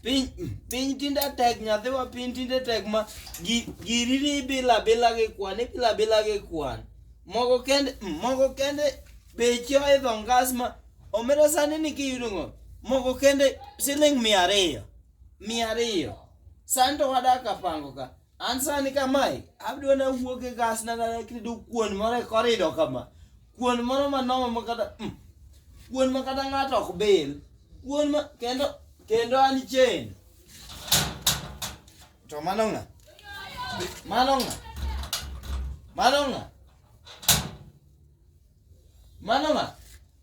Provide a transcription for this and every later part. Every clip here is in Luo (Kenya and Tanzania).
piny piny tinde tek nyathiwa piny tinde tek ma gi- giri ni ibilo abila gi kwan ibilo abila gi kwan moko kende moko kende beche oidho ngas ma omera sani ni kiyudo ngo moko kende siling mia ariyo mia ariyo sani to wadak kapango ka An sani kamae, abiro na wuok e gas na na kido kuon moro e korido kama. Kuon moro ma nomo ma kata mm, kuon ma kata ng'ato ok bil. Kuon ma kendo kendo an chen. To mano ng'a? Mano ng'a? Mano ng'a? Mano ng'a?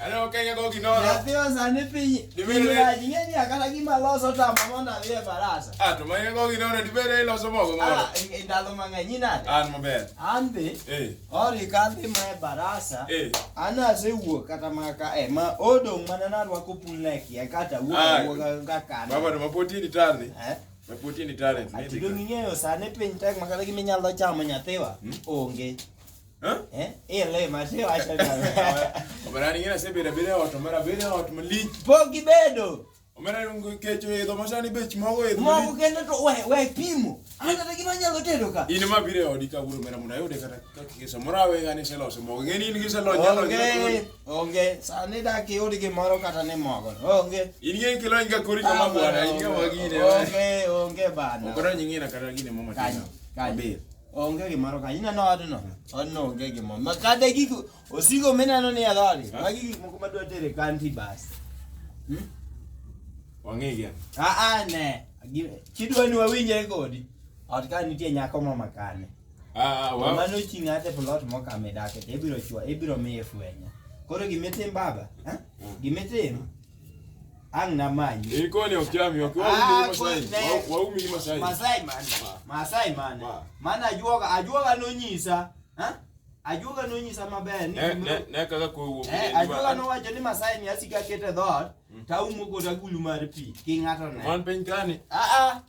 Ano kenya go kinoro. Ya pio sani pinyi. Dibere. Jinye ni akata kima loso ta mama na vile barasa. Ah, to manya go kinoro dibere loso mogo mogo. Ah, indalo manganyi na. Ah, maber. Ande. Eh. Ori kandi ma barasa. Eh. Ana se wuo kata maka eh ma odo mana na rwa kupulne ki kata wuo ah. wuo ga kana. Baba to mapoti ni tarni. Eh. Mapoti ni tarni. Ati do ng'eyo sani piny tek makata giminyalo chamo nyathiwa. Hmm? Onge. Eh? Eh, le ma se wa se na. Omera ni ngena se bere bere ot, omera bere ot malich. Pogi bedo. Omera rungu kecho e do masani bech mogo e. Mogo kendo to we we pimo. Ana ta gima nyalo tedo ka. In ma bire odi ka buru mera muna yode kata ka kiso mora we ngani se loso mogo. Ngeni in gise lo nyalo. Onge. Onge. Sani da ki odi gimoro kata ni mogo. Onge. In ngi kilo inga kuri kama bwana, inga wagine. Onge, onge bana. Okora nyingina kata gine mama. Kanyo. Kanyo. Onge gimoro ka ineno odno, odno onge gimoro. Ma kata gik osigo mineno ni adhori, magi gik moko madwa tere kanti bas. Hmm? Wang'e gi. Ah ah ne. Kidwa ni wawinje kodi. Ot ka nitie nyako ma makane. Ah, ah wow. Mano ching ate plot mo kame dake, ibiro chwa, ibiro miye fwenyo. Koro gimitim baba, eh? Hmm. Gimitim. Ang naman. Eh, ikaw ni Okiami, wakiwa ah, Masai. Waumi ni Masai. Masai man. Masai man. Man ajuoga, ajuoga no nyisa. Ha? Ajuoga no nyisa maber ni. Ne ne ne kaka ko wuo. Eh, ajuoga no wacho ni Masai ni asika kete dhot. Mm. Taumo kota gulu mar pi. Ki ng'ato ne. Man piny kani. Ah ah.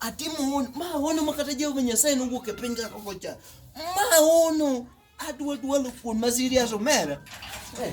atimo mahono ma kata Jehova Nyasaye nowuok e piny kaka ocha mahono adwa dwalo kuon ma serious omera eh.